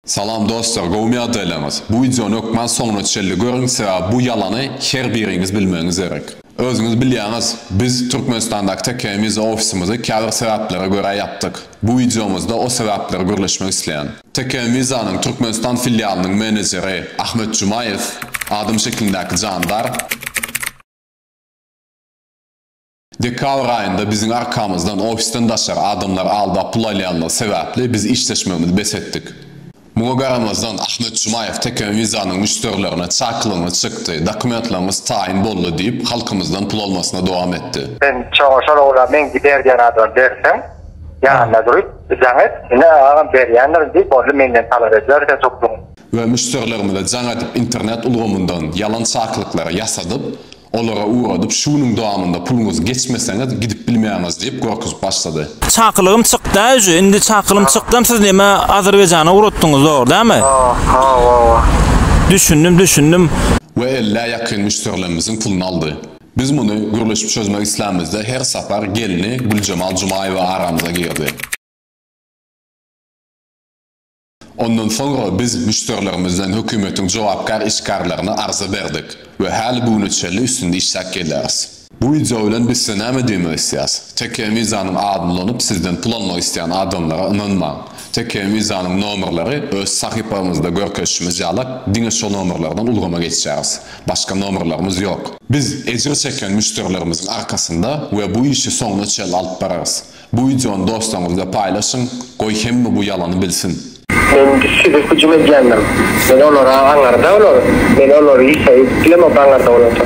Salam dostlar gowymy ýagdaýlaryňyz bu wideony hökman soňuna çenli görüň sebäbi bu ýalany her biriňiz bilmegiňiz gerek. Özüňiz bilýäňiz biz Türkmenistandaky TKM Visa ofisimizi käbir sebäplere görä ýapdyk. Bu wideomyzda o sebäpleri gürleşmek isleýän. TKM Visa-nyň Türkmenistan filialynyň menejeri Ahmet Jumaýew, adam şeklindäki jandar, Dekabr aýynda biziň arkamyzdan ofisden daşary adamlary aldap pul alýandygy sebäpli biz işleşmegimizi bes etdik. Muňa garamazdan, Ahmet Jumaýew Tekeme Wizanyň müşderilerine çakylygyňyz çykdy, dokumentlaryňyz taýyn boldy diýip, halkymyzdan pul almasyna dowam etdi. Sen çaňa şol ogla meň gider diýen adama berseň, ýanynda durup, jaň et, ine, agam berýändirin diý, boldy, menden talap ediber sen soklugyňy. we müşderilerimize jaň edip internet ulgamyndan ýalan çakylyklary ýasadyp, olara ugradyp şu günüň dowamynda puluňyzy geçmeseňiz gidip bilmeýäňiz diýip gorkuzip başlady. Çakylygym çykda uje indi çakylym çykdam siz neme azerbaýjana ugratdyňyz zor dämi. Aha wawa. Düşündim düşündim. We ellä ýakyn müşderilemmiziň puluny aldy. Biz muny gürleşip çözmek islämizde her sapar gelni Güljemal Jumaýewa aramyza girdi. Ondan soňra biz müşderilerimizden hökümetiň jogapkär işgärlerine arza berdik we häli bu güne çenli üstünde işläp gelýäris. Bu wideo bilen biz size näme diýmek isleýäris? Tekeýe Mizanyň adyny ulanyp sizden pul almak isleýän adamlara ynanmaň. Tekeýe Mizanyň nomerleri öz sahypamyzda görkezişimiz ýaly diňe şo nomerlerden ulgama geçýäris. Başga nomerlerimiz ýok. Biz ejir çeken müşderilerimiziň arkasynda we bu işi soňuna çenli alyp bararys. Bu wideony dostlaryňyz bilen paýlaşyň, goý hemme bu ýalany bilsin. Men size hüjüm edýändim. Men olara aňarda olar, men olary Isa edip bilemok aňarda bolanda.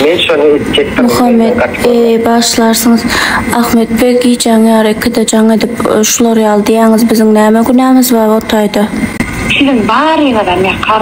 Men şony etjekdim menden gaty Muhammet eee bagyşlarsyňyz Ahmet beg gijäň ýary ikide jaň edip şular ýaly diýäňiz biziň näme günämiz bar o taýda. Siziň baryňyzam ýakar.